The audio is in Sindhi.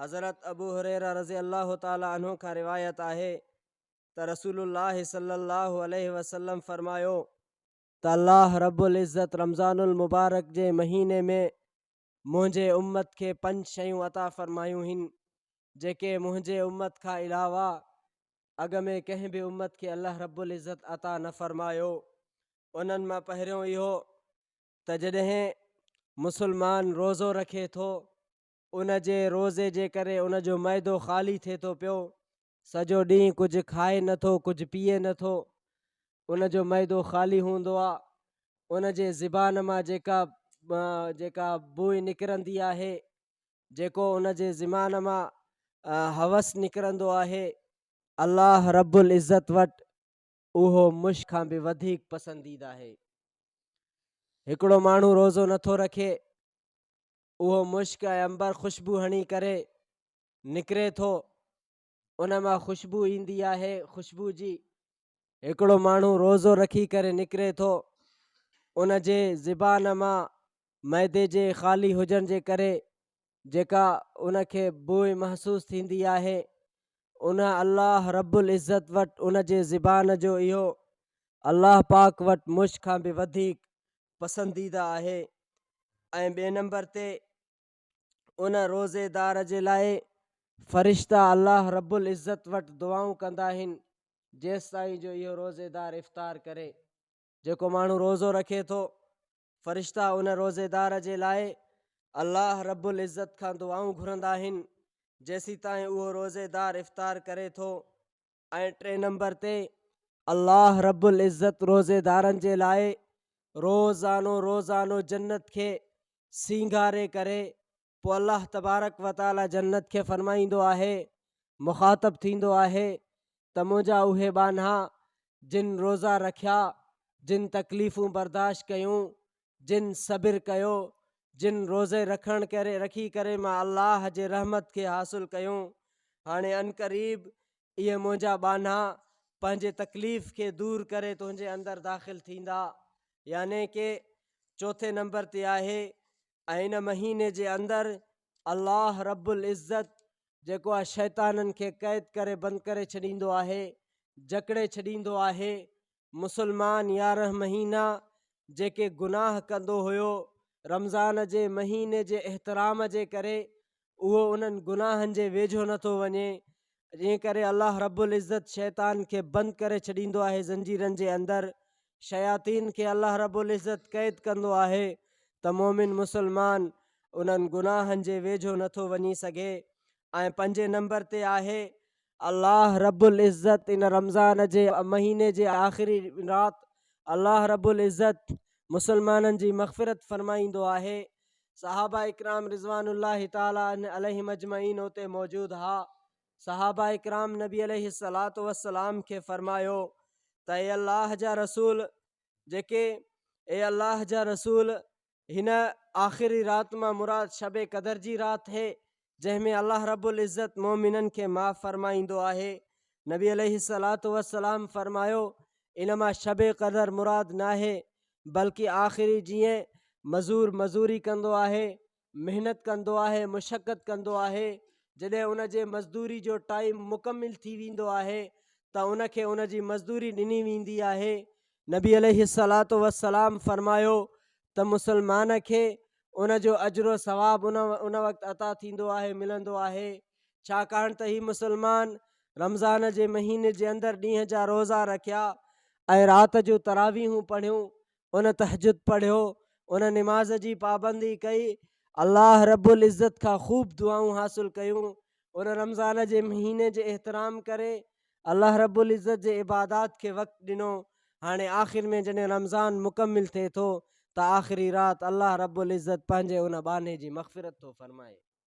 حضرت ابو هريره رضي الله تعالٰي عنه کان روايت آهي ته رسول الله صلي الله عليه وسلم فرمايو ته الله رب العزت رمضان المبارڪ جي مهيني ۾ منهنجي امت کي پنج شيون عطا فرمايون هن جيڪي منهنجي امت کان علاوه اڳ ۾ ڪنهن به امت کي الله رب العزت عطا نه فرمايو انهن مان پهريون اهو ته جڏهن مسلمان روزو رکي ٿو ان جي روزي جي ڪري ان جو معدو خالي ٿئي ٿو پيو، سڄو ڏينهن ڪجهه کائي نه ٿو، ڪجهه پيئي نه ٿو، ان جو معدو خالي هوندو آ، ان جي زبان مان جيڪا جيڪا بوء نڪرندي آهي، جيڪو ان جي زمان مان هوس نڪرندو آهي، الله رب العزت وٽ اهو مشڪ کان به وڌيڪ پسنديده آهي. هڪڙو ماڻهو روزو نه ٿو رکي، اهو مشڪ ۽ عنبر خوشبو هڻي ڪري نڪري ٿو ان مان خوشبو ايندي آهي خوشبو جي هڪڙو ماڻهو روزو رکي ڪري نڪري ٿو ان جي زبان مان معدي جي خالي هجڻ جي ڪري جيڪا ان کي بوء محسوس ٿيندي آهي ان الله رب العزت وٽ ان جي زبان جو اهو الله پاڪ وٽ مشڪ کان به وڌيڪ پسنديده آهي ۽ ٻئي نمبر تي ان روزي دار جي لاء فرشتا الله رب العزت وٽ دعائون ڪندا آهن جيستائين جو اهو روزي دار افطار ڪري جيڪو ماڻهو روزو رکي ٿو فرشتا ان روزي دار جي لاء الله رب العزت کان دعائون گهرندا آهن جيسيتائين اهو روزي دار افطار ڪري ٿو ۽ ٽئين نمبر تي الله رب العزت روزيدارن جي لاء روزانو روزانو جنت کي سينگاري ڪري پوء الله تبارڪ وتعالي جنت کي فرمائيندو آهي مخاطب ٿيندو آهي ته منهنجا اهي ٻانها جن روزا رکيا جن تڪليفون برداشت ڪيون جن صبر ڪيو، جن روزي رکڻ ڪري رکي ڪري مان الله جي رحمت کي حاصل ڪيون، هاڻي عنقريب اهي منهنجا ٻانها پنهنجي تڪليف کي دور ڪري تنهنجي اندر داخل ٿيندا. يعني ڪي چوٿين نمبر تي آهي ۽ ان مهيني جي اندر الله رب العزت جيڪو آهي شيطانن کي قيد ڪري بند ڪري ڇڏيندو آهي، جڪڙي ڇڏيندو آهي، مسلمان يارهن مهينا جيڪي گناهه ڪندو هيو رمضان جي مهيني جي احترام جي ڪري اهو انهن گناهن جي ويجهو نٿو وڃي جنهن ڪري الله رب العزت شيطان کي بند ڪري ڇڏيندو آهي زنجيرن جي اندر شياطين کي الله رب العزت قيد ڪندو آهي ته مومن مسلمان انهن گناهن جي ويجهو نٿو وڃي سگهي ۽ پنجين نمبر تي آهي الله رب العزت ان رمضان جي مهيني جي آخري رات الله رب العزت مسلمانن جي مغفرت فرمائيندو آهي صحابه اڪرام رضوان الله تعالٰي عليهم اجمعين اتي موجود ها صحابه اڪرام نبي عليه الصلاة والسلام کي فرمايو ته اي الله جا رسول جيڪي اي الله جا رسول هن آخري رات مان مراد شب قدر جي رات هي جنهن ۾ الله رب العزت مؤمنن کي معاف فرمائيندو آهي. نبي عليه الصلات والسلام فرمايو، ان مان شب قدر مراد ناهي بلڪ آخري جيئن مزور مزوري ڪندو آهي، محنت ڪندو آهي، مشقت ڪندو آهي، جڏهن ان جي مزدوري جو ٽائيم مڪمل ٿي ويندو آهي ته ان کي ان جي مزدوري ڏني ويندي آهي نبي عليه الصلوة والسلام فرمايو ته مسلمان کي ان جو اجر و ثواب ان ان وقت عطا ٿيندو آهي ملندو آهي ڇاڪاڻ ته هي مسلمان رمضان جي مهيني جي اندر ڏينهن جا روزا رکيا ۽ رات جو تراويحون پڙهيون ان تهجد پڙهيو ان نماز جي پابندي ڪئي الله رب العزت کان خوب دعائون حاصل ڪيون ان رمضان جي مهيني جي احترام ڪري الله رب العزت جي عبادات کي وقت ڏنو هاڻي آخر ۾ جڏهن رمضان مڪمل ٿئي ٿو ته آخري رات الله رب العزت پنهنجي ان ٻانهي جي مغفرت ٿو فرمائي